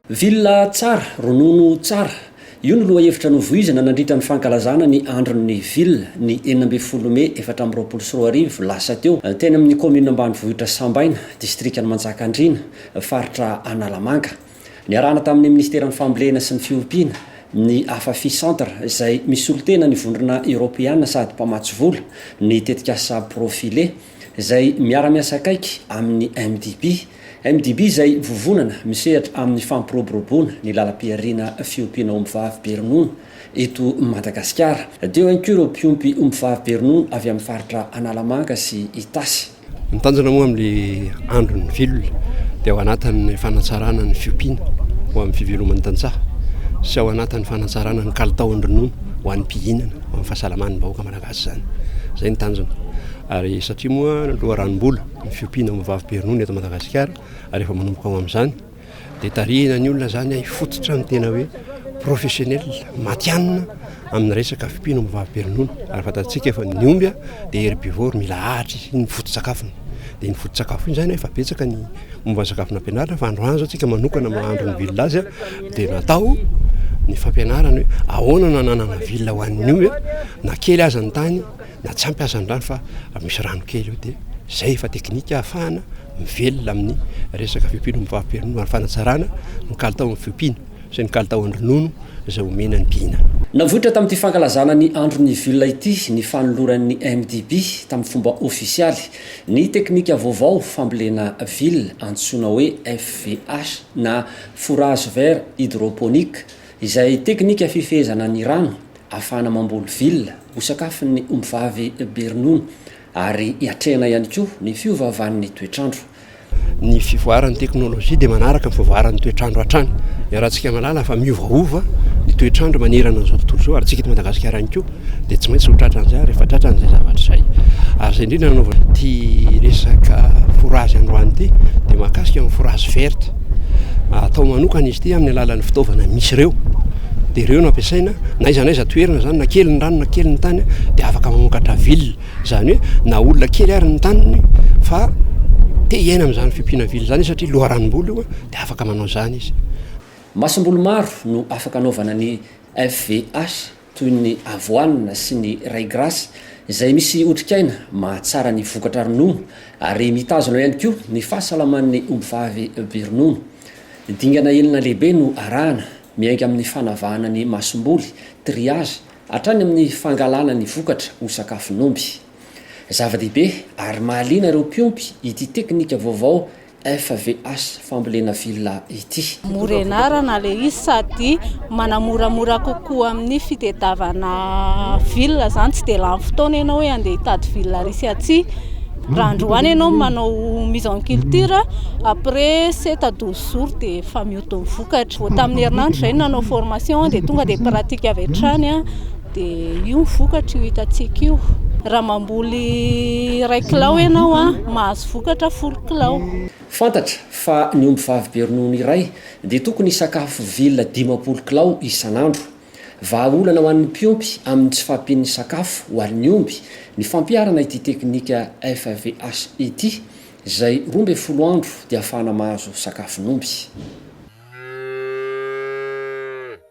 Villa tsara, ronono tsara. Io no lohahevitra novoizina nandritra ny fankalazana ny Andron'ny Villa, ny enina ambin'ny folo mey efatra amby roapolo sy roa arivo lasa teo, teny amin'ny kaominina ambanivohitra Sambaina, distrikan'i Manjakandriana, faritra Analamanga. Niarahana tamin'ny Minisiteran'ny Fambolena sy ny Fiompiana, ny Afafi Centre, izay misolo tena ny Vondrona Eoropeana sady mpamatsy vola, ny tetikasa Profile, izay miara-miasa akaiky amin'ny MDB. MDB izay vovonana misehatra amin'ny fampiroboroboana ny lalam-pihariana fiompiana ombivavy be ronono eto Madagasikara. Teo ihany koa ireo mpiompy ombivavy be ronono avy amin'ny faritra Analamanga sy Itasy. Ny tanjona moa amin'ilay andron'ny vilona dia ao anatin'ny fanatsarana ny fiompiana ho amin'ny fiveloman'ny tantsaha sy ao anatin'ny fanatsarana ny kalitaon-dronono ho an'ny mpihinana, ho an'ny fahasalaman'ny vahoaka malagasy izany. Izay ny tanjona. Ary satria moa loharanom-bola ny fiompiana amin'ny vavibe ronono eto Madagasikara ary efa manomboka ao amin'izany, Dia tarihina ny olona izany hifototra ny tena hoe professionnel, matihanina amin'ny resaka fimpino amin'ny vavim-pirenona. Ary fantatsika fa ny omby dia herbivore, mila ahitra izy, iny foto-tsakafony. Dia iny foto-tsakafo iny izany efa betsaka ny momba ny sakafo nampianarina fa androany izao tsika manokana mahandro ny villa azy dia natao ny fampianarana hoe ahoana no ananana villa ho an'ny omby na kely aza ny tany. na tsy ampy aza ny rano fa misy rano kely eo dia zay efa teknika ahafahana mivelona amin'ny resaka fiompiana omby vavim-pirenena ary fanatsarana ny kalitaon'ny fiompiana sy ny kalitaon'ny ronono izay omena ny mpihinana. Navoitra tamin'ity fankalazana ny andron'ny villa ity ny fanoloran'ny MDB tamin'ny fomba ofisialy ny teknika vaovao fambolena villa antsoina hoe FVH na Fourage vert hydroponique Izay teknika fifehezana ny rano ahafahana mamboly villa ho sakafon'ny ombivavy be ronono ary hiatrehana ihany koa ny fiovaovan'ny toetr'andro. Ny fivoaran'ny teknolojia dia manaraka ny fivoaran'ny toetr'andro hatrany. Iarahantsika mahalala fa miovaova ny toetr'andro manerana an'izao tontolo izao ary antsika eto Madagasikara ihany koa. dia tsy maintsy ho tratran'izay ary efa tratran'izay zavatra izay. Ary izay indrindra nanaovana ity resaka forazy androany ity dia mahakasika ny forazy verte. Atao manokana izy ity amin'ny alalan'ny fitaovana misy ireo dia ireo no ampiasaina na iza na iza toerana zany na kely ny rano na kely ny tany dia afaka mamokatra ville zany hoe na olona kely ary ny taniny fa te hiaina amin'izany fimpiana ville zany satria loharanom-bolo io dia afaka manao zany izy masomboly maro no afaka anaovana ny FVH toy ny avoine sy ny ray grass, izay misy otrikaina mahatsara ny vokatra ronono ary mitazona ihany koa ny fahasalaman'ny ombivavy be ronono. Dingana enina lehibe no arahana, miainga amin'ny fanavahana ny masomboly, triage, hatrany amin'ny fangalana ny vokatra ho sakafon'omby. Zava-dehibe ary mahaliana ireo mpiompy ity teknika vaovao FVH fambolena villa ity. Morenara na le izy sady manamoramora kokoa amin'ny fitedavana villa izany tsy dia lany fotoana ianao hoe andeha hitady villa ary sy atsy raha androany ianao no manao mise en culture après sept à douze jours dia efa mihodin'ny vokatra, vao tamin'ny herinandro izay no nanao formation dia tonga dia pratique avy hatrany an! Dia io ny vokatra io hitantsika io. Raha mamboly iray kilao ianao, mahazo vokatra folo kilao. Fantatra fa ny ombivavy be ronono iray dia tokony hisakafo vilona dimampolo kilao isan'andro. Vahaolana ho an'ny mpiompy amin'ny tsy fahampian'ny sakafo ho an'ny omby ny fampiharana ity teknika FAVH ity, izay roa ambin'ny folo andro dia ahafahana mahazo sakafon'omby.